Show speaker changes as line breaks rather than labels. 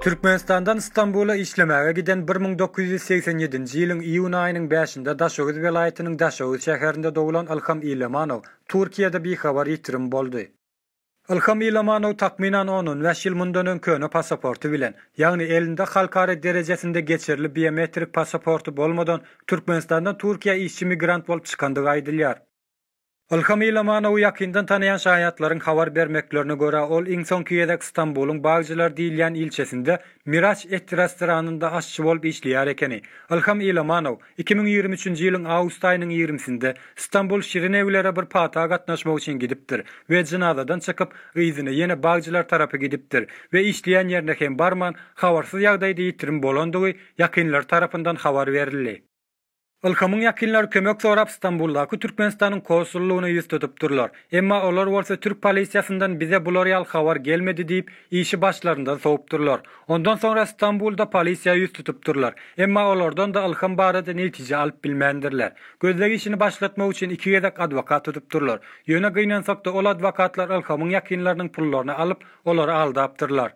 Türkmenistandan Stambula işlemäge giden 1987-nji ýylyň iýun aýynyň bäşinde Daşoguz welaýatynyň Daşoguz şäherinde doglan Ylham Ilamanow Türkiýede bihabar ýitirim boldy. Ylham Ilamanow takmynan on-on bäş ýyl mundan öň köne passaporty bilen, ýagny elinde halkara derejesinde geçerli biometrik passaporty bolmadan Türkmenistandan Türkiýä işçi-migrant bolup çykandygy aýdylýar. Ylham Ilamanowy ýakyndan tanaýan şaýatlaryň habar bermeklerine görä, ol iň soňky gezek Stambulyň Bagçylar diýilýän ilçesinde Miraç et restoranynda aşçy bolup işleýär ekeni. Ylham Ilamanow iki müň ýigrimi üçünji ýylyň awgust aýynyň ýigrimisinde Stambul Şirin ewlere bir pata gatnaşmak üçin gidipdir we jynazadan çykyp, yzyna ýene Bagçylar tarapy gidipdir we işleýän ýerine hem barman, habarsyz ýagdaýda ýitirim bolandygy ýakynlary tarapyndan habar berildi. Ylhamyň ýakynlary kömek sorap Stambuldaky Türkmenistanyň konsullygyna ýüz tutupdyrlar. Emma olar bolsa türk polisiýasyndan bize bular ýaly habar gelmedi diýip, işi başlaryndan sowupdyrlar. Ondan soňra Stambulda polisiýa ýüz tutupdyrlar. Emma olardan-da Ylham barada netije alyp bilmändirler. Gözleg işini başlatmak üçin iki gezek adwokat tutupdyrlar. Ýöne gynansak-da ol adwokatlar Ylhamyň ýakynlarynyň pullaryny alyp, olary aldapdyrlar.